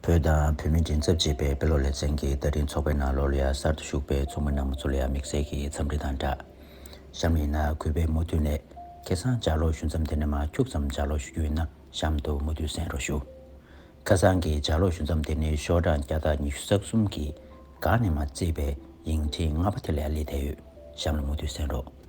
བོད་དང་བོད་མིའི་མགྲིན་ཚབ་ཅེས་པའི་དཔེ་ཀློག་ལེ་ཚན་གྱི་བརྡ་འཕྲིན་ཚོགས་པའི་ནང་ལོ་ལོ་ཡར་གསར་དུ་ཞུགས་པའི་ཚོགས་མི་རྣམས་ཚོ་ལོ་ཡར་དམིགས་བསལ་གྱི་འཚམས་འདྲི་དང་སྦྲགས། གཤམ་ཡིན་ན་གུས་པས་མུ་མཐུད་ནས་ཁེ་སང་ལྗགས་ཀློག་ཞུ་མཚམས་དེ་ནས་མ་འཁྱུག་ཙམ་ལྗགས་ཀློག་ཞུ་རྒྱུ་ཡིན་ན་གཤམ་དུ་མུ་མཐུད་གསན་རོགས་ཞུ། ཁ་སང་གི་ལྗགས་ཀློག་ཞུ་མཚམས་དེ་ནི་ཤོག་གྲངས་བརྒྱ་དང་ཉི་ཤུ་རྩ་གསུམ་གྱི་སྒང་ནས་མ་བརྩིས་པའི་ཡིག་འཕྲིན་ལྔ་པ་དེ་ལས་ལས་བསྡད་ཡོད་གཤམ་ལ་མུ་མཐུད་གསན་རོགས།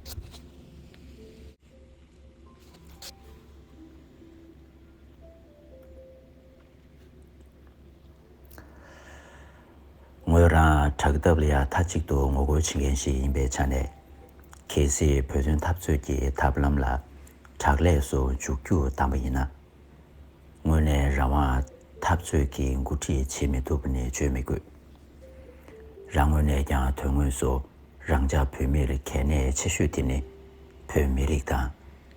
ངོས་རང་དྲག་འཐབ་ལ་ཡང་མཐའ་གཅིག་ཏུ་ངོ་རྒོལ་བྱེད་མཁན་ཞིག་ཡིན་པའི་ཆ་ནས། གལ་སྲིད་བོད་དོན་འཐབ་རྩོད་ཀྱི་ཐབས་ལམ་ལ་དྲག་ལས་སུ་འཇུག་རྒྱུ་དམ་པ་ཡིན་ན། དངོས་གནས་རང་དབང་འཐབ་རྩོད་ཀྱི་འགོ་ཁྲིད་བྱེད་མི་ཐུབ་ནི་བརྗོད་མི་དགོས། རང་ངོས་ནས་ཀྱང་དོན་དངོས་སུ་རང་ཅག་བོད་མིར་གལ་གནད་ཆེ་ཤོས་དེ་ནི་བོད་མི་རིགས་དང་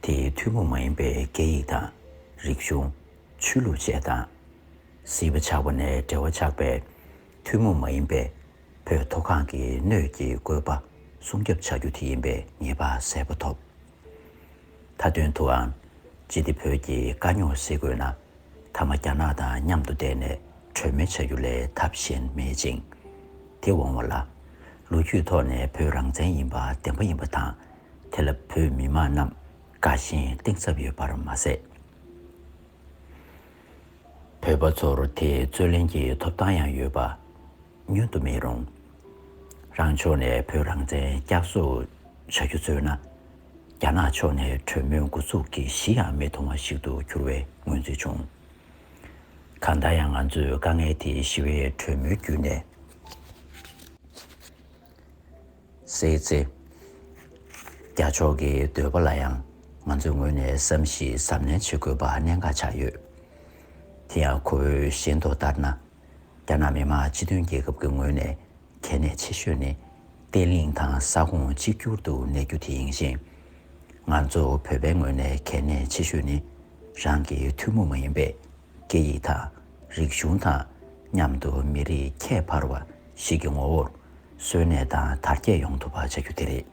དེའི་ཐུན་མོང་མ་ཡིན་པའི་སྐད་ཡིག་དང་རིག་གཞུང། ཆོས་ལུགས་བཅས་དང། སྲིད་པ་ཆགས་པ་ནས་འབྲེལ་བ་ཆགས་པའི་ཐུན་མོང་མ་ཡིན་པའི་བོད་མཐོ་སྒང་གི་སྣོད་ཀྱི་བཀོད་པ་སྲུང་སྐྱོབ་བྱ་རྒྱུ་དེ་ཡིན་པའི་ངེས་པ་གསལ་པོ་ཐོབ། མཐའ་དོན་དུའང། ཅི་སྟེ་བོད་ཀྱི་དཀའ་རྙོག་སེལ་དགོས་ན། མཐའ་མ་རྒྱ་ནག་དང་མཉམ་དུ་བསྡད་ནས་གྲོས་མོལ་བྱ་རྒྱུ་ལས་ཐབས་གཞན་མེད་ཅིང། དེ་འོང་བ་ལ། ལོ་རྒྱུས་ཐོག་ནས་བོད་རང་བཙན་ཡིན་པ་བདེན་པ་ཡིན་པ་དང། དེ་ལ་བོད་མི་མང་རྣམས་དགའ་ཞེན་གཏིང་ཟབ་ཡོད་པར་མ་ཟད། བོད་པ་ཚོར་དེས་རྩོད་ལེན་གྱི་ཐོབ་ཐང་ཡང་ཡོད་པ། ཉོན་དུ་མི་རུང། རང་ཕྱོགས་ནས་བོད་རང་བཙན་བསྐྱར་གསོ་བྱ་རྒྱུ་བརྩོད་ན། རྒྱ་ནག་ཕྱོགས་ནས་གྲོས་མོལ་འགོ་ཚུགས་ཀྱི་གཞི་ཡང་མི་མཐོང་བ་ཞིག་ཏུ་གྱུར་བའི་མངོན་ཚུལ་བྱུང། གང་ལྟར་ཡང་ང་ཚོས་དཀའ་ངལ་དེ་ཞི་བའི་གྲོས་མོལ་བརྒྱུད་ནས་སེལ་ཚེ། རྒྱ་ཕྱོགས་ཀྱི་འདོད་པ་ལ་ཡང་ང་ཚོའི་ངོས་ནས་བསམ་གཞིགས་གཟབ་ནན་བྱེད་དགོས་པ་གནད་འགག་ཆགས་ཡོད། དེ་ཡང་ཁོ་བོའི་ཞེན་མདོག་ལྟར་ན། རྒྱ་ནག་མི་དམངས་སྤྱི་མཐུན་རྒྱལ་ཁབ་ཀྱི་ངོས་ནས་གལ་གནད་ཆེ་ཤོས་ནི་བརྟན་ལྷིང་དང་ས་ཁོངས་གཅིག་གྱུར་དུ་གནས་རྒྱུ་དེ་ཡིན་ཞིང། ང་ཚོ་བོད་པའི་ངོས་ནས་གལ་གནད་ཆེ་ཤོས་ནི་རང་གི་ཐུན་མོང་མ་ཡིན་པའི་སྐད་ཡིག་དང་རིག་གཞུང་དང་མཉམ་དུ་མི་རིགས་ཁྱད་འཕར་བ་ཞིག་གི་ངོ་བོར་གསོན་གནས་དང་དར་རྒྱས་ཡོང་ཐུབ་པ་བྱ་རྒྱུ་དེ་རེད།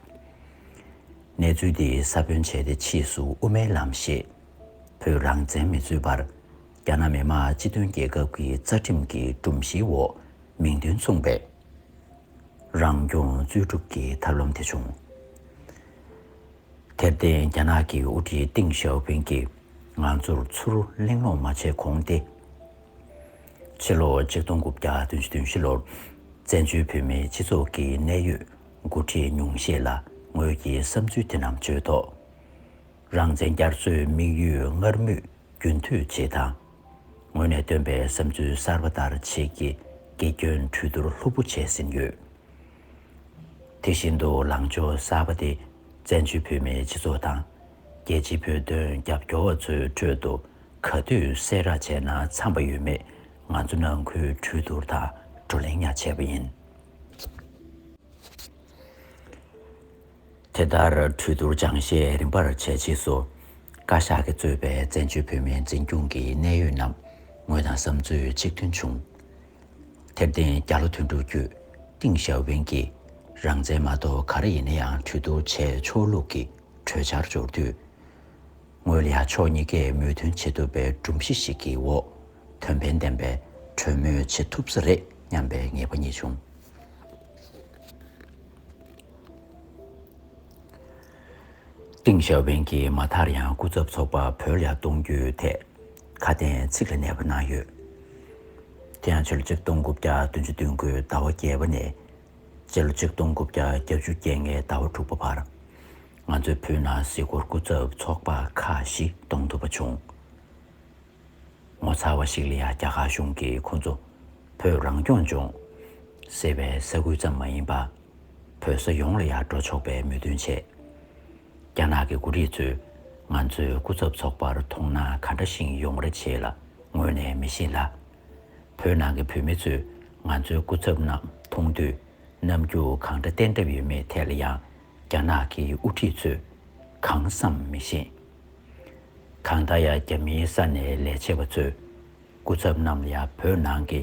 གནས་ཚུལ་འདི་ས་བོན་བྱས་ཏེ་ཕྱིས་སུ་དབུ་མའི་ལམ་ཞེས་བོད་རང་བཙན་མི་རྩོད་པར། རྒྱ་ནག་མི་དམངས་སྤྱི་མཐུན་རྒྱལ་ཁབ་ཀྱི་རྩ་ཁྲིམས་ཀྱི་སྒྲོམ་གཞིའི་འོག་མིང་དོན་མཚུངས་པའི་རང་སྐྱོང་རྩོད་སྒྲུབ་ཀྱི་ཐབས་ལམ་དེ་བྱུང། དེར་བརྟེན་རྒྱ་ནག་གི་དབུ་ཁྲིད་ཏིང་ཞའོ་ཕིང་གིས་ང་ཚོར་ཚུར་གླེང་སློང་མ་བྱས་གོང་སྟེ། ཕྱི་ལོ་གཅིག་སྟོང་དགུ་བརྒྱ་དོན་བཞི་དོན་བཞི་ལོར་བཙན་བྱོལ་བོད་མིའི་སྤྱི་ཚོགས་ཀྱི་གནད་ཡོད་མགོ་ཁྲིད་ཉུང་ཤས་ལ་ངོས་ཀྱི་བསམ་ཚུལ་དེ་རྣམས་བརྗོད་ཐོག། རང་བཙན་རྒྱ་མཚོའི་དམིགས་ཡུལ་སྔར་མུས་རྒྱུན་མཐུད་བྱེད་དང། ངོས་ནས་བཏོན་པའི་བསམ་ཚུལ་གསར་པ་ལྟར་བྱེད་ཀྱི་དགེ་སྐྱོན་གྲོས་བསྡུར་ལྷུག་པོ་བྱས་ཟིན་ཡོད། དེ་བཞིན་དུ་ལངས་ཕྱོགས་གསར་པ་དེ་བཙན་བྱོལ་བོད་མིའི་སྤྱི་ཚོགས་དང། རྒྱལ་སྤྱིའི་བོད་དོན་རྒྱབ་སྐྱོར་བ་ཚོའི་ཁྲོད་དུ་ག་དུས་གསལ་བསྒྲགས་བྱས་ན་འཚམ་པ་ཡོད་མེད་ང་ཚོ་ནང་ཁུལ་གྲོས་བསྡུར་དང་བགྲོ་གླེང་ཡང་བྱས་པ་ཡིན། དེ་ལྟར་གྲོས་བསྡུར་སྦྱང་བཤད་རིམ་པར་བྱས་རྗེས་སུ། བཀའ་ཤག་གིས་གཙོས་པའི་བཙན་བྱོལ་བོད་མིའི་འཛིན་སྐྱོང་གི་གནད་ཡོད་རྣམས་ངོས་དང་བསམ་ཚུལ་གཅིག་མཐུན་བྱུང། དེར་བརྟེན་རྒྱ་ལོ་དོན་དྲུག་བརྒྱུད་ཏིང་ཞའོ་ཕིང་གིས་རང་བཙན་མ་གཏོགས་ག་རེ་ཡིན་ན་ཡང་གྲོས་བསྡུར་བྱས་ཆོག་ལུགས་ཀྱི་གྲོས་འཆར་འབྱོར་དུས། ངོས་ལ་ཡང་ཕྱོགས་གཉིས་ཀས་མོས་མཐུན་བྱེད་ཐུབ་པའི་སྒྲོམ་གཞི་ཞིག་གི་འོག་དོན་ཕན་ལྡན་པའི་གྲོས་མོལ་བྱེད་ཐུབ་ས་རེད་སྙམ་པའི་ངེས་པ་རྙེད་བྱུང། ཏིང་ཞའོ་ཕིང་གིས་མ་མཐར་ཡང་སྐུ་ཚབ་ཚོགས་པ་བོད་ལ་གཏོང་རྒྱུའི་ཐད་ཁ་གཏན་ཚིགས་ལ་གནས་པ་གནང་ཡོད། དེ་ཡང་ཕྱི་ལོ་ཆིག་སྟོང་དགུ་བརྒྱ་བདུན་ཅུ་སྟོན་དགུའི་ཟླ་བ་བརྒྱད་པ་ནས་སྤྱི་ལོ་ཆིག་སྟོང་དགུ་བརྒྱ་བརྒྱད་བཅུ་བརྒྱད་ལྔའི་ཟླ་བ་དྲུག་པ་བར་ང་ཚོའི་བོད་ནང་གཟིགས་སྐོར་སྐུ་ཚབ་ཚོགས་པ་ཁག་བཞི་གཏོང་ཐུབ་པ་བྱུང། ངོ་མཚར་བ་ཞིག་ལ་ཡང་རྒྱ་གར་གཞུང་གིས་ཁོ་ཚོ་བོད་རང་སྐྱོང་ལྗོངས་ཟེར་བའི་ས་ཁུལ་ཙམ་མ་ཡིན་པར་བོད་ས་ཡོངས་ལ་ཡང་འགྲོ་ཆོག་པའི་མོས་མཐུན་བྱས། རྒྱ་ནག་གི་མགོ་རིགས་ཚོས་ང་ཚོའི་སྐུ་ཚབ་ཚོགས་པར་མཐོང་ན་ག་འདྲ་ཞིང་ཡོང་རེ་བྱེད་ལ་ངོ་ནས་མི་ཤེས་ལ། བོད་ནང་གི་བོད་མི་ཚོས་ང་ཚོའི་སྐུ་ཚབ་རྣམས་མཐོང་དུས་རྣམ་འགྱུར་གང་འདྲ་བསྟན་གྲབས་ཡོད་མེད་ཐད་ལ་ཡང་རྒྱ་ནག་གི་དབུ་ཁྲིད་ཚོས་གང་བསམ་མི་ཤེས། གང་ལྟར་ཡང་རྒྱ་མིའི་ས་ནས་ལས་བྱེད་པ་ཚོས་སྐུ་ཚབ་རྣམས་ལ་བོད་ནང་གི་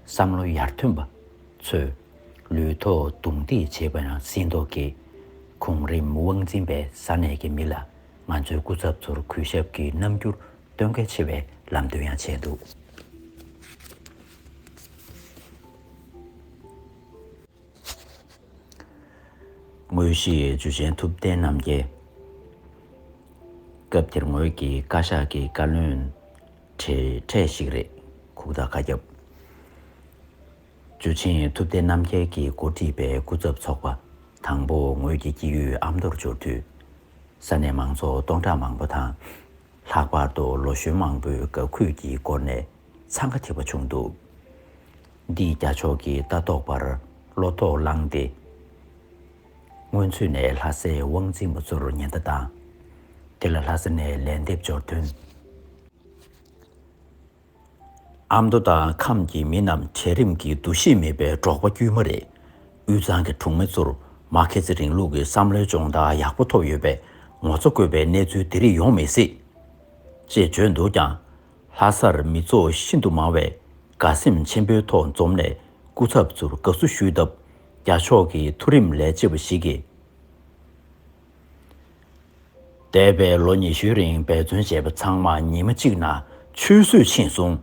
བསམ་བློ་ཡར་ཐོན་པ་ཚོས་ལུས་ཐོག་རྡུང་རྡེག་བྱེད་པ་ཡང་ཟིན་ཐོག་གི་གོང་རིམ་དབང་འཛིན་པའི་ས་གནས་ཀྱི་མི་ལ་ང་ཚོའི་སྐུ་ཚབ་ཚོར་གུས་ཞབས་ཀྱི་རྣམ་འགྱུར་སྟོན་གལ་ཆེ་བའི་ལམ་སྟོན་ཡང་བྱས་འདུག། དངོས་གཞི་འཇུ་ཆེན་ཐུབ་བསྟན་རྣམ་རྒྱལ། སྐབས་དེར་ངོས་ཀྱི་བཀའ་ཤག་གི་བཀའ་བློན་གྲས་གྲས་ཤིག་རེད། ཁུག་རྟ་བཀའ་ཁྱབ། འཇུ་ཆེན་ཐུབ་བསྟན་རྣམ་རྒྱལ་གྱི་འགོ་ཁྲིད་པའི་སྐུ་ཚབ་ཚོགས་པ་དང་པོ་ངོས་ཀྱི་སྐྱིད་ཡུལ་ཨ་མདོར་འབྱོར་དུས། ས་གནས་མང་ཚོགས་སྟོང་ཕྲག་མང་པོ་དང། ལྷག་པར་དུ་ལོ་གཞོན་མང་པོས་དགའ་གུས་ཀྱི་སྒོ་ནས་འཚང་ཁ་འཐེབ་པ་བྱུང་འདུག། འདིས་རྒྱ་ཕྱོགས་ཀྱི་ལྟ་རྟོག་པར་བློ་དོགས་བསླངས་ཏེ། སྔོན་ཚུད་ནས་ལྷ་སའི་དབང་འཛིན་པ་ཚོར་ཉེན་བརྡ་བཏང། དེ་ལ་ལྷ་ས་ནས་ལན་འདེབས་འབྱོར་དོན། ཨ་མདོ་དང་ཁམས་ཀྱི་མི་རྣམས་གྲལ་རིམ་གྱི་འདུ་ཤེས་མེད་པའི་འབྲོག་པ་དཀྱུས་མ་རེད། དབུས་གཙང་གི་གྲོང་མི་ཚོར་མར་ཁེ་སི་རིང་ལུགས་ཀྱི་བསམ་བློའི་སྦྱོང་བརྡར་ཡག་པོ་ཐོབ་ཡོད་པས་ངོ་ཚ་དགོས་པའི་གནས་ཚུལ་དེ་རིགས་ཡོང་མི་སྲིད། ཅེས་བརྗོད་འདུག་ཀྱང། ལྷ་སར་མི་ཚོགས་ཤིན་ཏུ་མང་བས་དགའ་སེམས་ཆེན་པོའི་ཐོག་འཛོམས་ནས་སྐུ་ཚབ་ཚོར་དགའ་བསུ་ཞུས་སྟབས་རྒྱ་ཕྱོགས་ཀྱི་མཐོ་རིམ་ལས་བྱེད་པ་ཞིག་གིས། འདས་པའི་ལོ་ཉི་ཤུའི་རིང་འབད་བརྩོན་བྱས་པ་ཚང་མ་ཉིན་མ་གཅིག་ན་ཆུད་ཟོས་ཕྱིན་སོང།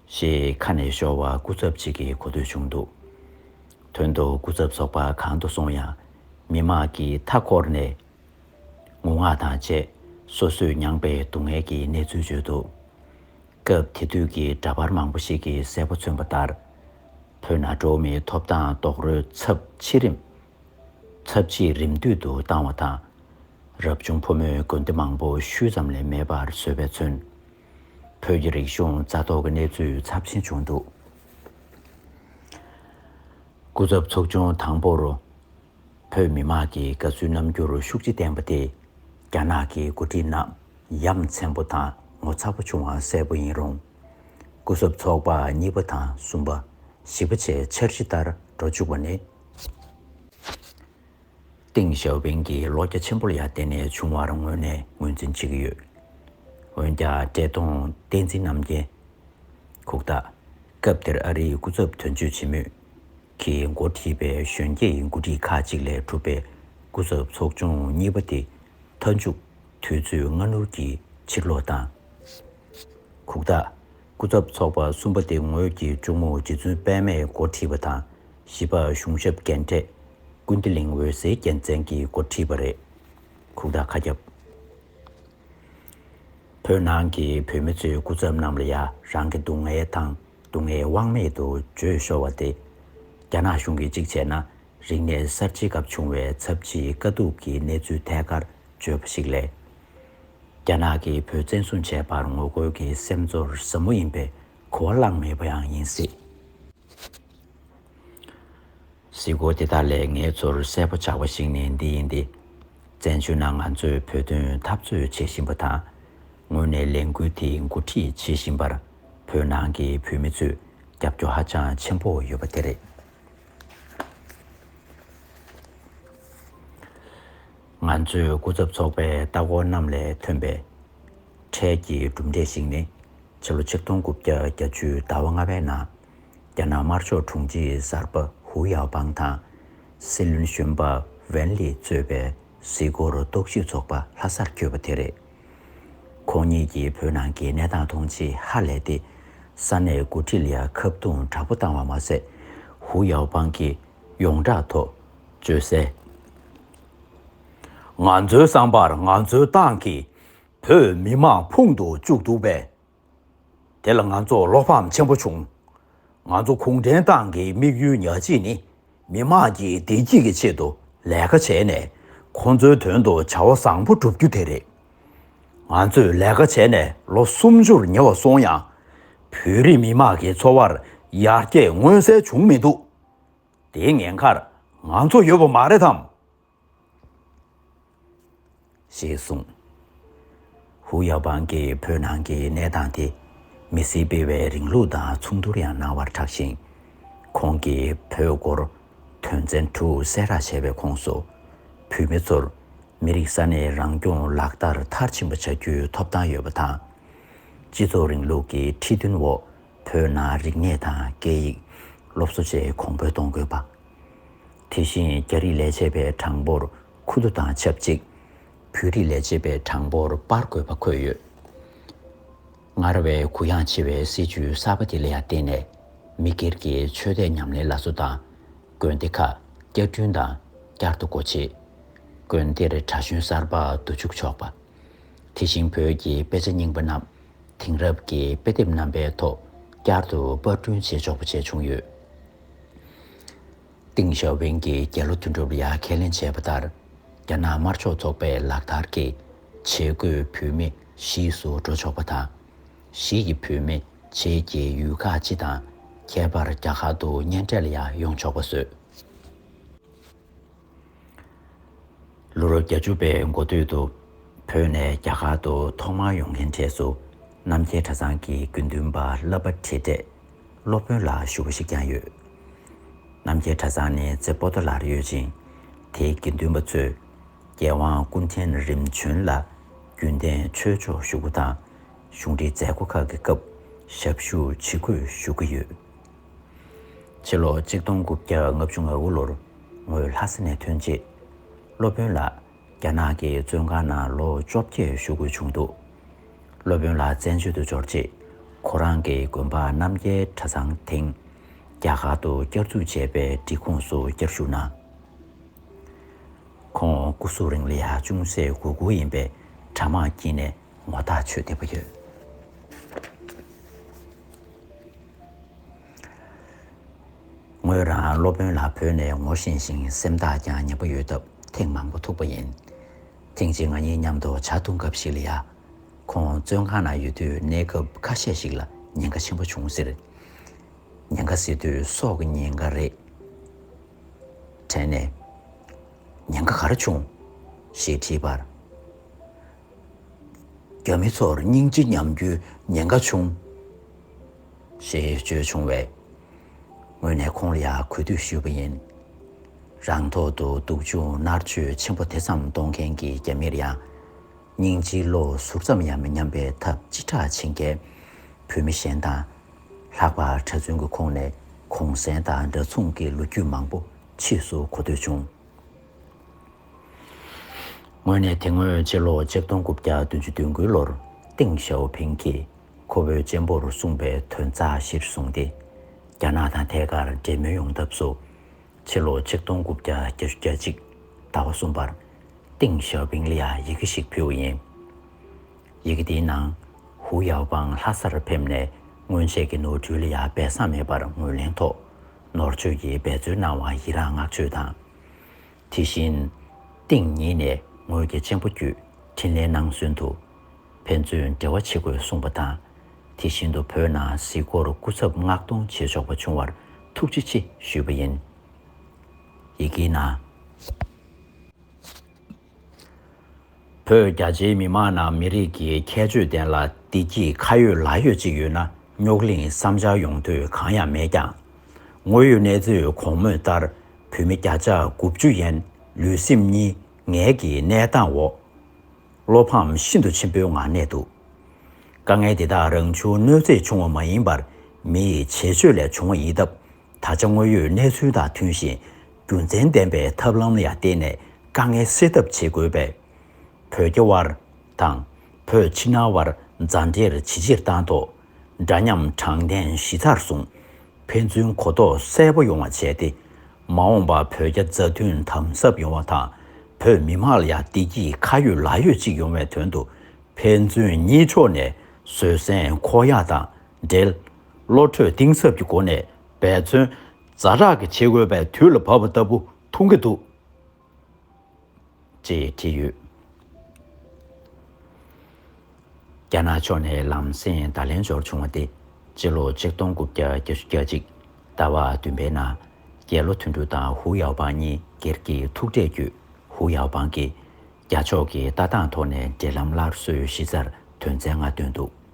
ཞེས་ཁ་ནས་ཤོར་བ་སྐུ་ཚབ་ཅིག་གིས་གོ་ཐོས་བྱུང་འདུག་དོན་དུ་སྐུ་ཚབ་ཚོགས་པ་གང་དུ་སོང་ཡང་མི་མང་གིས་མཐའ་འཁོར་ནས་ངུ་ངག་དང་བཅས་སོ་སོས་མྱངས་པའི་སྡུག་བསྔལ་གྱི་གནས་ཚུལ་བརྗོད་འདུག་སྐབས་དེ་དུས་ཀྱི་འདྲ་པར་མང་པོ་ཞིག་གིས་གསལ་པོ་མཚོན་པ་ལྟར། བོད་ན་འགྲོ་བ་མིའི་ཐོབ་ཐང་རྡོག་རོལ་ཚབས་ཆེ་རིམ། ཚབས་ཆེས་རིམ་བསྟུད་དུ་བཏང་བ་དང། རབ་བྱུང་ཕོ་མོའི་དགོན་སྡེ་མང་པོ་ཤུལ་ཙམ་ལས་མེད་པར་བཟོས་པས་མཚོན། བོད་ཀྱི་རིག་གཞུང་རྩ་གཏོར་གྱི་གནས་ཚུལ་ཚབས་ཆེན་བྱུང་འདུག་སྐུ་ཚབ་ཚོགས་ཆུང་དང་པོར། བོད་མི་དམངས་ཀྱི་དགའ་བསུའི་རྣམ་འགྱུར་ཤུགས་ཆེ་བསྟན་པ་དེ། རྒྱ་ནག་གི་འགོ་ཁྲིད་རྣམས་ཡ་མཚན་པོ་དང་ངོ་ཚ་པོ་བྱུང་བ་གསལ་པོ་ཡིན་རུང། སྐུ་ཚབ་ཚོགས་པ་གཉིས་པ་དང་གསུམ་པ། བཞི་པ་བཅས་འཆར་གཞི་ལྟར་འགྲོ་བཅུག་པ་ནི། ཏིང་ཞའོ་ཕིང་གི་ལོ་བརྒྱ་ཆེན་པོ་ལ་ཡར་བརྟེན་ནས་བྱུང་བར་ངོས་ནས་ངོས་འཛིན་བྱེད་ཀྱི་ཡོད། འོན་ཀྱང་བཀྲས་མཐོང་བསྟན་འཛིན་རྣམ་རྒྱལ། ཁུག་རྟ། སྐབས་དེར་ཨ་རིའི་སྐུ་ཚབ་དོན་གཅོད་བྱེད་མུས། གིས་འགོ་ཁྲིད་པའི་གཞོན་སྐྱེས་ཡི་འགོ་ཁྲིད་ཁག་ཅིག་ལས་གྲུབ་པའི་སྐུ་ཚབ་ཚོགས་ཆུང་གཉིས་པ་དེ་མཐའ་མཇུག་དུས་ཚོད་སྔ་སྣུར་གྱིས་ཕྱིར་ལོག་བཏང། ཁུག་རྟ། སྐུ་ཚབ་ཚོགས་པ་གསུམ་པ་དེ་ངོས་ཀྱི་གཅུང་མོ་རྗེ་བཙུན་དཔལ་མས་འགོ་ཁྲིད་པ་དང་བཞི་པ་གཞུང་ཞབས་རྒན་གྲས་ཀུན་བདེ་གླིང་འོད་ཟེར་རྒྱལ་མཚན་གྱིས་འགོ་ཁྲིད་པ་རེད། ཁུག་རྟ་ཁ་རྒྱབ། བོད་ནང་གི་བོད་མི་ཚོའི་སྐུ་ཚབ་རྣམས་ལ་ཡང་རང་གི་སྡུག་བསྔལ་དང། སྡུག་བསྔལ་དབང་མེད་དུ་བརྗོད་ཤོར་བ་སྟེ། རྒྱ་ནག་གཞུང་གིས་གཅིག་བྱས་ན་རིག་གནས་གསར་བརྗེའི་སྐབས་བྱུང་བའི་ཚབས་ཆེའི་དཀའ་སྡུག་གི་གནས་ཚུལ་ཐད་ཀར་བརྗོད་པ་ཞིག་ལས། རྒྱ་ནག་གིས་བོད་བཙན་བཟུང་བྱས་པར་ངོ་རྒོལ་གྱི་སེམས་ཚོར་ཟབ་མོ་ཡིན་པའི་གོ་བ་བླངས་མེད་པ་ཡང་ཡིན་སྲིད། གཟིགས་སྐོར་དེ་དག་ལས་ངའི་ཚོར་གསལ་པོ་ཆགས་པ་ཞིག་ནི་འདི་ཡིན་ཏེ། བཙན་བྱོལ་ནང་ང་ཚོས་བོད་དོན་འཐབ་རྩོད་བྱེད་བཞིན་པ་དང། ངོས་ནས་ལས་འགུལ་དེ་འགོ་ཁྲིད་བྱེད་བཞིན་པར་བོད་ནང་གི་བོད་མི་ཚོས་རྒྱབ་སྐྱོར་ཧ་ཅང་ཆེན་པོ་ཡོད་པ་དེ་རེད། ང་ཚོས་སྐུ་ཚབ་ཚོགས་པའི་ལྟ་སྐོར་རྣམས་ལས་ཐོན་པའི་འཕྲལ་གྱི་གྲུབ་འབྲས་ཤིག་ནི། ཕྱི་ལོ་ཆིག་སྟོང་དགུ་བརྒྱ་གྱ་བཅུའི་ཟླ་བ་ལྔ་པའི་ནང་རྒྱ་ནག་དམར་ཕྱོགས་དྲུང་ཆེ་གསར་པ་ཧུའུ་ཡའོ་པང་དང། སྲིད་བློན་གཞོན་པ་ཝན་ལིས་གཙོས་པའི་གཟིགས་སྐོར་རྟོག་ཞིབ་ཚོགས་པ་ལྷ་སར་བསྐྱོད་པ་དེ་རེད། ཁོང་གཉིས་ཀྱིས་བོད་ནང་གི་གནས་སྟངས་མཐོང་ཆེས་ཧ་ལས་ཏེ། ས་གནས་མགོ་ཁྲིད་ལ་ཁ་བརྡུང་དྲག་པོ་བཏང་བ་མ་ཟད། ཧུའུ་ཡའོ་པང་གིས་ཡོངས་བསྒྲགས་ཐོག་བརྗོད་གསལ། ང་ཚོའི་བསམ་པར་ང་ཚོའི་ཏང་གིས་བོད་མི་དམངས་ཕུང་དུ་བཅུག་འདུག་པས། དེ་ལ་ང་ཚོར་བློ་ཕམ་ཆེན་པོ་བྱུང། ང་ཚོ་གུང་ཁྲན་ཏང་གི་དམིགས་ཡུལ་ཉག་གཅིག་ནི་མི་དམངས་ཀྱི་བདེ་སྐྱིད་ཀྱི་ཆེད་དུ་ལས་ཀ་བྱས་ནས་ཁོང་ཚོའི་དོན་དུ་བྱ་བ་བཟང་པོ་བསྒྲུབ་རྒྱུ་དེ་རེད། ང་ཚོས་ལས་ཀ་བྱས་ནས་ལོ་སུམ་ཅུར་ཉེ་བ་སོང་ཡང། བོད་རིགས་མི་དམངས་ཀྱི་འཚོ་བར་ཡར་རྒྱས་མངོན་གསལ་བྱུང་མི་འདུག་དེའི་ངན་ཁར་ང་ཚོ་ཡོད་པ་མ་རེད་དམ། ཞེས་གསུངས། ཧུའུ་ཡའོ་པང་གིས་བོད་ནང་གི་གནས་སྟངས་དེ་མི་སེར་སྤེལ་བའི་རིང་ལུགས་དང་མཚུངས་བསྡུར་ཡང་གནང་བར་གྲགས་ཤིང། ཁོང་གིས་བོད་སྐོར་དོན་ཚན་དྲུག་གསལ་བསྒྲགས་བྱས་པའི་ཁོངས་སུ། བོད་མི་ཚོར་མི་རིགས་ས་གནས་རང་སྐྱོང་ལག་བསྟར་མཐར་ཕྱིན་པ་བྱ་རྒྱུའི་ཐོབ་ཐང་ཡོད་པ་དང། སྤྱི་ཚོགས་རིང་ལུགས་ཀྱི་ཁྲིད་སྟོན་འོག་བོད་ནང་རིག་གནས་དང་སྐད་ཡིག་སློབ་གསོ་བཅས་གོང་འཕེལ་གཏོང་དགོས་པ། དེ་བཞིན་རྒྱ་རིགས་ལས་བྱེད་པའི་གྲངས་འབོར་ཁུ་ཐུ་དང་ཆབས་ཅིག་བོད་རིགས་ལས་བྱེད་པའི་གྲངས་འབོར་སྤར་དགོས་པ་འཁོད་ཡོད། སྔར་བས་གུ་ཡངས་ཆེ་བའི་སྲིད་བྱུས་གསར་པ་དེ་ལ་ཡང་བརྟེན་ནས་མི་སྒེར་གྱི་ཆོས་དད་ཉམས་ལེན་ལ་བཟོ་དང། དགོན་སྡེ་ཁག་བསྐྱར་སྐྲུན་དང་བསྐྱར་དུ་སྒོ་ཕྱེ། དགོན་སྡེར་གྲྭ་གཞོན་གསར་པ་བསྡུ་བཅུག་ཆོག་པ། དེ་བཞིན་བོད་ཀྱི་དཔེ་ཆ་རྙིང་པ་རྣམས་དེང་རབས་ཀྱི་དཔེ་དེབ་རྣམ་པའི་ཐོག་བསྐྱར་དུ་དཔར་སྐྲུན་བྱེད་ཆོག་པ་བཅས་བྱུང་ཡོད། ཏིང་ཞའོ་ཕིང་གིས་རྒྱལ་ལོ་དོན་གྲུབ་ལ་ཁས་ལེན་བྱས་པ་ལྟར་རྒྱ་ནག་དམར་ཕྱོགས་ཚོགས་པའི་ལག་བསྟར་གྱི་བྱེད་སྒོས་བུད་མེད་གཞིས་སུ་འགྲོ་ཆོག་པ་དང། གཞིས་ཀྱི་བུད་མེད་བྱེས་ཀྱི་ཡུལ་ཁག་སྤྱི་དང་ཁྱད་པར་རྒྱ་གར་དུ་གཉེན་འཕྲད་ལ་ཡང་ཡོང་ཆོག་པ་བཟོས། ལོ་རབས་གྱ་བཅུ་པའི་འགོ་སྟོད་དུ་བོད་ནས་རྒྱ་གར་དུ་ཐོག་མར་ཡོང་མཁན་གྲས་སུ་རྣམ་རྒྱལ་གྲྭ་ཚང་གི་དགེ་འདུན་པ་བསླབ་པ་ཁྲིད་གྲས་སློབ་དཔོན་ལ་ཞུ་བ་ཞིག་ཀྱང་ཡོད། རྣམ་རྒྱལ་གྲྭ་ཚང་ནི་རྩེ་པོ་ཏཱ་ལར་ཡོད་ཅིང་དེའི་དགེ་འདུན་པ་ཚོས་རྒྱལ་དབང་ཀུན་ཕྲན་རིམ་བྱོན་ལ་རྒྱུན་གཏན་ཆོས་ཕྱོགས་ཞུ་སྒོ་དང་གཞུང་འབྲེལ་མཛད་སྒོ་ཁག་གི་སྐབས་ཞབས་ཞུ་ཇི་དགོས་ཞུ་གི་ཡོད། ཕྱི་ལོ་གཅིག་སྟོང་དགུ་བརྒྱ་ལྔ་བཅུ་ང་དགུ་ལོར་ངོས་ལྷ་ས་ནས་ཐོན་རྗེས། སློབ་དཔོན་ལགས་རྒྱ་ནག་གི་བཙོན་ཁང་ནང་ལོ་བཅོ་བརྒྱད་བཞུགས་དགོས་བྱུང་འདུག་སློབ་དཔོན་ལགས་བཙན་བྱོལ་དུ་འབྱོར་རྗེས་ཁོ་རང་གི་དགོན་པ་རྣམ་རྒྱལ་གྲྭ་ཚང་དེང་རྒྱ་གར་དུ་བསྐྱར་འཛུགས་བྱས་པའི་སྒྲིག་ཁོངས་སུ་བསྐྱར་ཞུགས་གནང། ཁོང་སྐུ་གཟུགས་རིང་ལི་ཧ་ཅུང་ཟད་གུ་གུ་ཡིན་པས་གྲྭ་མང་དཀྱིལ་ནས་ངོ་ཐག་ཆོད་བདེ་པོ་ཡོད། ངོས་རང་སློབ་དཔོན་ལ་བོས་ནས་ངོ་ཤེས་ཤིང་སེམས་ཐག་ཀྱང་ཉེ་པོ་ཡོད་སྟབས་ཐེངས་མང་པོ་ཐུག་པ་ཡིན། ཐེངས་གཅིག་ང་གཉིས་མཉམ་དུ་བྱ་འཐུང་སྐབས་ཤིག་ལ་ཡ། ཁོང་བཙོན་ཁང་ན་ཡོད་དུས་གནས་སྐབས་ཁ་ཤས་ཤིག་ལ་ཉེན་ཁ་ཆེན་པོ་བྱུང་ཟེར། ཉེན་ཁ་ཟེར་དུས་སྲོག་གི་ཉེན་ཁ་རེད། དྲན་ནས། ཉེན་ཁ་ག་རེ་བྱུང། ཞེས་དྲིས་པར། རྒྱ་མི་ཚོར་སྙིང་རྗེ་ཉམས་རྒྱུའི་ཉེན་ཁ་ཆུང། ཞེས་བརྗོད་བྱུང་བས། ངོས་ནས་ཁོང་ལ་ཡང་གུས་འདུད་ཞུས་པ་ཡིན། རང་ཐོག་ཏུ་སྡུག་སྦྱོང་མནར་གཅོད་ཆེན་པོ་དེ་ཙམ་གཏོང་མཁན་གྱི་རྒྱ་མིར་ཡང། སྙིང་རྗེའི་བློ་ཟུར་ཙམ་ཡང་མི་ཉམས་པའི་ཐབས་ཅི་དྲག་བྱེད་མཁན་བོད་མི་གཞན་དང། ལྷག་པར་གྲྭ་བཙུན་གྱི་ཁོངས་ནས་གུང་གསེང་དང་འདྲ་མཚུངས་ཀྱི་ལོ་རྒྱུས་མང་པོ་ཕྱིས་སུ་གོ་ཐོས་བྱུང། ངོས་ནས་དེ་སྔོན་སྤྱི་ལོ་ཆིག་སྟོང་དགུ་བརྒྱ་བདུན་ཅུ་བདུན་དགུའི་ལོར་ཏེང་ཞའོ་ཕིང་གིས་ཁོ་བོའི་གཅེན་པོར་གསུངས་པའི་དོན་རྩ་གཞིར་བཟུང་སྟེ། རྒྱ་ནག་དང་ཐད་ཀར་འབྲེལ་མོལ་ཡོང་ཐབས་སུ། ཕྱི་ལོ་ཆིག་སྟོང་དགུ་བརྒྱ་བརྒྱད་ཅུ་གྱ་གཅིག་ཟླ་བ་གསུམ་པར་ཏེང་ཞའོ་ཕིང་ལ་ཡི་གེ་ཞིག་ཕུལ་བ་ཡིན། ཡི་གེ་དེའི་ནང་ཧུའུ་ཡའོ་པང་ལྷ་སར་ཕེབས་ནས་སྔོན་ཆད་ཀྱི་ནོར་འཁྲུལ་ལ་ཡང་སྦས་གསང་མེད་པར་ངོས་ལེན་ཐོག། ནོར་བཅོས་ཀྱིས་འབད་རྩོལ་གནང་བར་ཡི་རངས་བསྔགས་བརྗོད་དང། དེ་བཞིན། ཏིང་ཉིད་ནས་ངོས་ཀྱི་གཅེན་པོ་བརྒྱུད་འཕྲིན་ལས་གནང་ཚུན་དུ། ཕན་ཚུན་འབྲེལ་བ་བྱེད་དགོས་གསུངས་པ་དང། དེ་བཞིན་དུ་བོད་ནང་གཟིགས་སྐོར་སྐུ་ཚབ་མངགས་གཏོང་བྱེད་ཆོག་པ་བྱུང་བར་ཐུགས་རྗེ་ཆེ་ཞུས་པ་ཡིན། ཡི་གེའི་ནང། བོད་རྒྱ་ཆེའི་མི་མང་ནང་མི་རིགས་ཀྱི་ཁྱད་ཆོས་ལྡན་ལ་བདེ་སྐྱིད་ཁ་ཡོད་ལག་ཡོད་ཅིག་ཡོད་ན་རྙོག་གླིང་བསམ་འཆར་ཡོང་དུས་གང་ཡང་མེད་ཀྱང། དངོས་ཡོད་གནས་ཚུལ་གོང་སྨོས་ལྟར་བོད་མི་བརྒྱ་ཆ་དགུ་བཅུ་ཡན་ལུས་སེམས་གཉིས་ངལ་གྱི་གནས་སྟངས་འོག་བློ་ཕམ་ཤིན་ཏུ་ཆེན་པོའི་ངང་གནས་འདུག་དཀའ་ངལ་འདི་དག་རང་བྱུང་གནོད་འཚེ་བྱུང་བ་མ་ཡིན་པར་མི་ཡི་བྱེད་སྤྱོད་ལས་བྱུང་བ་ཡིན་སྟབས་ད་ཆ་དངོས་ཡོད་གནས་ཚུལ་དང་མཐུན་ཞིང་རྒྱུ་མཚན་ལྡན་པའི་ཐབས་ལམ་ལ་ཡང་བརྟེན་ནས་དཀའ་ངལ་སེལ་ཐབས་བྱེད་དགོས་པས། བོད་རྒྱ་དབར་དང། བོད་ཕྱི་ནང་དབར་མཛའ་འབྲེལ་ཇེ་ཆེར་བཏང་ཐོག་འདྲ་མཉམ་དྲང་བདེན་གཞི་རྩར་བཟུང། ཕན་ཚུན་གོ་རྟོགས་གསལ་པོ་ཡོང་བ་བྱས་ཏེ། མ་འོངས་པར་བོད་རྒྱ་མཛའ་མཐུན་དམ་ཟབ་ཡོང་བ་དང་བོད་མི་དམངས་ལ་ཡང་བདེ་སྐྱིད་ཁ་ཡོད་ལག་ཡོད་ཅིག་ཡོང་བའི་དོན་དུ་ཕན་ཚུན་གཉིས་ཕྱོགས་ནས་བཟོད་བསྲན་ཁོག་ཡངས་དང་འབྲེལ། བློ་གྲོས་གཏིང་ཟབ་ཀྱི་སྒོ་ནས་འབད་བརྩོན། རྫ་དྲག་གི་ཕྱེད་གོས་པའི་དུས་ལ་བབ་པ་ལྟ་བུ་མཐོང་གི་འདུག། ཅེས་བྲིས་ཡོད། རྒྱ་ནག་ཕྱོགས་ནས་ལམ་སེང་བརྡ་ལན་འབྱོར་བྱུང་བ་སྟེ། སྤྱི་ལོ་ཆིག་སྟོང་དགུ་བརྒྱ་བརྒྱ་བཅུ་གྱ་གཅིག་ཟླ་བ་བདུན་པའི་ནང། རྒྱལ་ལོ་ཐུན་ཏུའུ་དང་ཧུའུ་ཡའོ་པང་གཉིས་སྒེར་གྱི་ཐུག་འཕྲད་བརྒྱུད་ཧུའུ་ཡའོ་པང་གིས། རྒྱ་ཕྱོགས་ཀྱི་ལྟ་སྟངས་ཐོག་ནས་འབྲེལ་ལམ་སླར་གསོའི་གཞི་རྩར་དོན་ཚན་ལྔ་བཏོན་འདུག།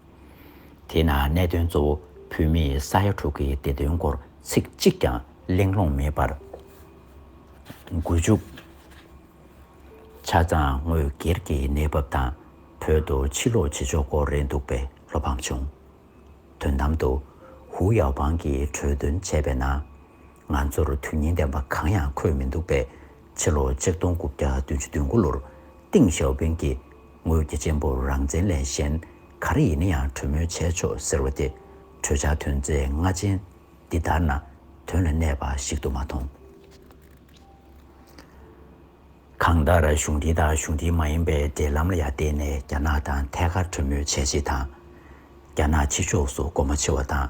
དེས་ན་གནད་དོན་གཙོ་བོ་བོད་མིས་ས་ཡ་དྲུག་གི་བདེ་དོན་སྐོར་ཚིག་གཅིག་ཀྱང་གླེང་སློང་མེད་པར། དགུ་བཅུ། ཆ་ཚང་དངོས་སྒེར་གྱི་གནས་བབ་དང་བོད་དུ་ཕྱིར་ལོག་བྱེད་ཕྱོགས་སྐོར་རེད་འདུག་པས་བློ་ཕམ་བྱུང། དོན་དམ་དུ། ཧུའུ་ཡའོ་པང་གིས་གྲོས་འདོན་བྱས་པའི་ནང། ང་ཚོར་དོན་སྙིང་ལྡན་པ་གང་ཡང་འཁོད་མི་འདུག་པས། ཕྱི་ལོ་ཆིག་སྟོང་དགུ་བརྒྱ་བདུན་ཅུ་དོན་དགུ་ལོར་ཏིང་ཞའོ་ཕིང་གིས་ངོས་ཀྱི་གཅེན་པོར་རང་བཙན་ལས་གཞན་ག་རེ་ཡིན་ན་ཡང་གྲོས་མོལ་བྱས་ཆོག་ཟེར་བ་དེ་གྲོས་འཆར་ཐོན་རྫས་ལྔ་ཅན་འདི་ལྟར་ན་དོན་ལ་གནས་པ་ཞིག་ཏུ་མ་མཐོང། གང་ལྟར་གཞུང་འདི་དང་གཞུང་འདི་མ་ཡིན་པའི་འབྲེལ་ལམ་ལ་ཡང་བརྟེན་ནས་རྒྱ་ནག་དང་ཐད་ཀར་གྲོས་མོལ་བྱས་རྗེས་དང། རྒྱ་ནག་ཕྱི་ཕྱོགས་སུ་སྒོ་མོ་ཕྱེ་བ་དང་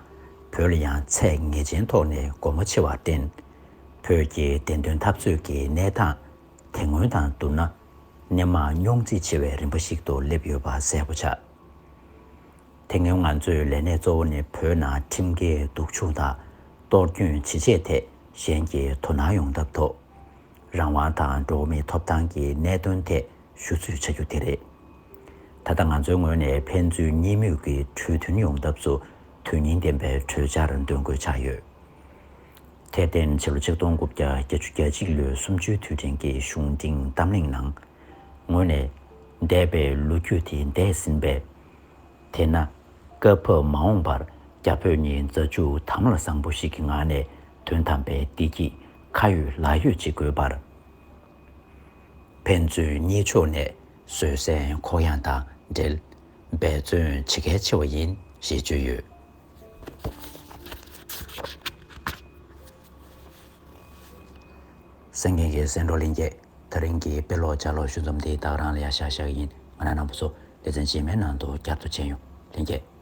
བོད་ལ་ཡང་ཚད་ངེས་ཅན་ཐོག་ནས་སྒོ་མོ་ཕྱེ་བར་བརྟེན། བོད་ཀྱི་བདེན་དོན་འཐབ་རྩོད་ཀྱི་གནས་སྟངས་དེ་སྔོན་དང་བསྡུར་ན། སྣེ་མང་རྙོག་འཛིང་ཆེ་བའི་རིམ་པ་ཞིག་ཏུ་སླེབས་ཡོད་པ་གསལ་པོ་ཆགས། དེ་སྔོན་ང་ཚོས་ལས་གནས་གཙོ་བོ་ནི་བོད་ནང་ཁྲིམས་འགལ་སྡུག་སྦྱོང་དང་གཏོར་སྐྱོན་ཇི་བྱས་ཐད་གཞན་གྱིས་དོ་སྣང་ཡོང་ཐབས་ཐོག། རང་དབང་དང་འགྲོ་བ་མིའི་ཐོབ་ཐང་གི་གནད་དོན་ཐད་ཞུ་ཚུལ་ཆ་རྒྱུས་དེ་རེད། ད་ལྟ་ང་ཚོའི་ངོས་ནས་ཕན་ཚུན་གཉིས་མོས་ཀྱི་གྲོས་མཐུན་ཡོང་ཐབས་སུ་དོན་སྙིང་ལྡན་པའི་གྲོས་འཆར་འདོན་དགོས་ཆགས་ཡོད། དེར་བརྟེན་ཕྱི་ལོ་ཆིག་སྟོང་དགུ་བརྒྱ་བརྒྱད་ཅུ་གྱ་གཅིག་ལོའི་གསུམ་བཅུའི་དུས་དྲན་གྱི་གཞུང་འབྲིང་གཏམ་གླེང་ནང། ངོས་ནས། འདས་པའི་ལོ་རྒྱུས་དེ་འདས་ཟིན་པས། དེས་ན། སྐབས་བབ་མ་འོངས་པར་རྒྱ་བོད་གཉིས་མཛའ་གཅུགས་དམ་ལ་བཟང་པོ་ཞིག་གི་ངང་ནས་དོན་དམ་པའི་བདེ་སྐྱིད་ཁ་ཡོད་ལག་ཡོད་ཅིག་དགོས་པར། ཕན་ཚུན་གཉིས་ཕྱོགས་ནས་བཟོད་བསྲན་ཁོག་ཡངས་དང་འབྲེལ་འབད་བརྩོན་བྱེད་གལ་ཆེ་བ་ཡིན་ཞེས་བརྗོད་ཡོད། སེང་གེ་འགའི་སེང་འབྲོག་གླིང་རྒྱལ་ཐ་རིང་གི་དཔེ་ཀློག་བྱ་ཀློག་ཞུ་རྩོམ་འདི་དག་རང་ལ་ཡག་ཤག་ཤག་ཡིན་ང་རང་ནང་པོ་སོགས་སྡེ་ཚན་རྗེས་མའི་ནང་དུ་བསྐྱར་དུ་མཆན་ཡོང་ལན་བསྐྱལ།